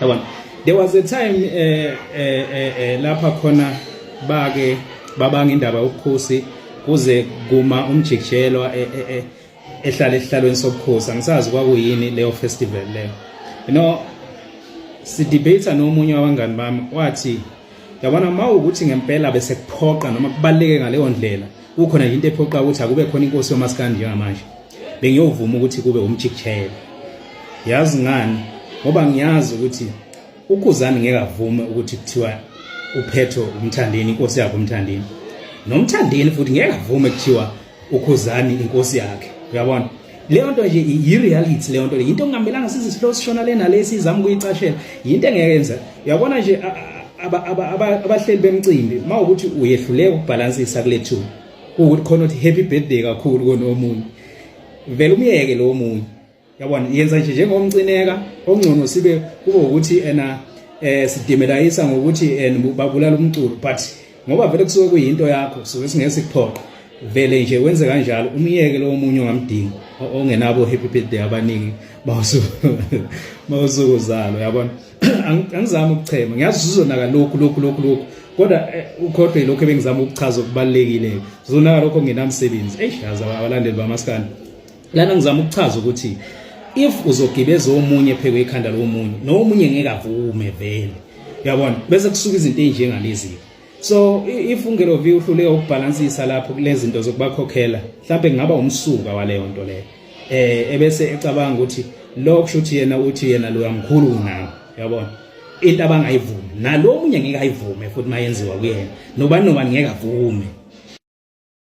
yabona there was a time eh eh eh, eh lapha khona bake babanga indaba yobukhosi kuze kuma umjikjelo eh, eh, eh, ehlala esihlalweni sobukhosi angisazi kwakuyini leyo festival leyo you know sidebate nomunye wabangani bami wathi yabona uma ukuthi ngempela bese kuphoqa noma kubaleke ngaleyo ndlela kukhona into ephoqa ukuthi akube khona inkosi yomaskandi njengamanje bengiyovuma ukuthi kube umjikjele yazi ngani ngoba ngiyazi ukuthi ukhuzani ngeke avume ukuthi kuthiwa uphetho umthandeni inkosi yakhe umthandeni nomthandeni futhi ngeke avume kuthiwa ukhuzani inkosi yakhe uyabona leyo nto nje yi-reality leyo nto le yinto okungamelanga size sihlose sishona le nale sizama ukuyicashela yinto engeke yenza uyabona nje abahleli bemcimbi uma ukuthi uyehluleka ukubhalansisa kule two kuwukuthi khona ukuthi happy birthday kakhulu konomunye vele umyeke lowo munye yabona yenza nje njengomcineka ongcono sibe kube ukuthi ena eh sidimelayisa ngokuthi eh, babulala umculo but ngoba vele kusuke kuyinto yakho suke singeke sikuphoqe vele nje wenze kanjalo umyeke lowo munye ongamdingi ongenabo happy birthday abaningi mawusuku uzalo yabona angizami ukuchema ngiyazi sizonaka lokhu lokhu lokhu lokhu kodwa eh, ukhohlwe lokho ebengizama ukuchaza okubalekile zonaka lokho ngenamsebenzi eish yazi abalandeli bamaskandi lana ngizama ukuchaza ukuthi if uzogibeza omunye pheke ikhanda lomunye nomunye ngeke avume vele yabona bese kusuka izinto ezinjengalezi so if ungelovi uhluleka ukubhalansisa lapho kulezi zinto zokubakhokhela mhlawumbe kungaba umsuka waleyo nto leyo eh ebese ecabanga ukuthi lokho shuthi yena uthi yena lo yamkhulu unawo yabona into abangayivumi nalomunye ngeke ayivume futhi mayenziwa kuyena nobani nobani ngeke avume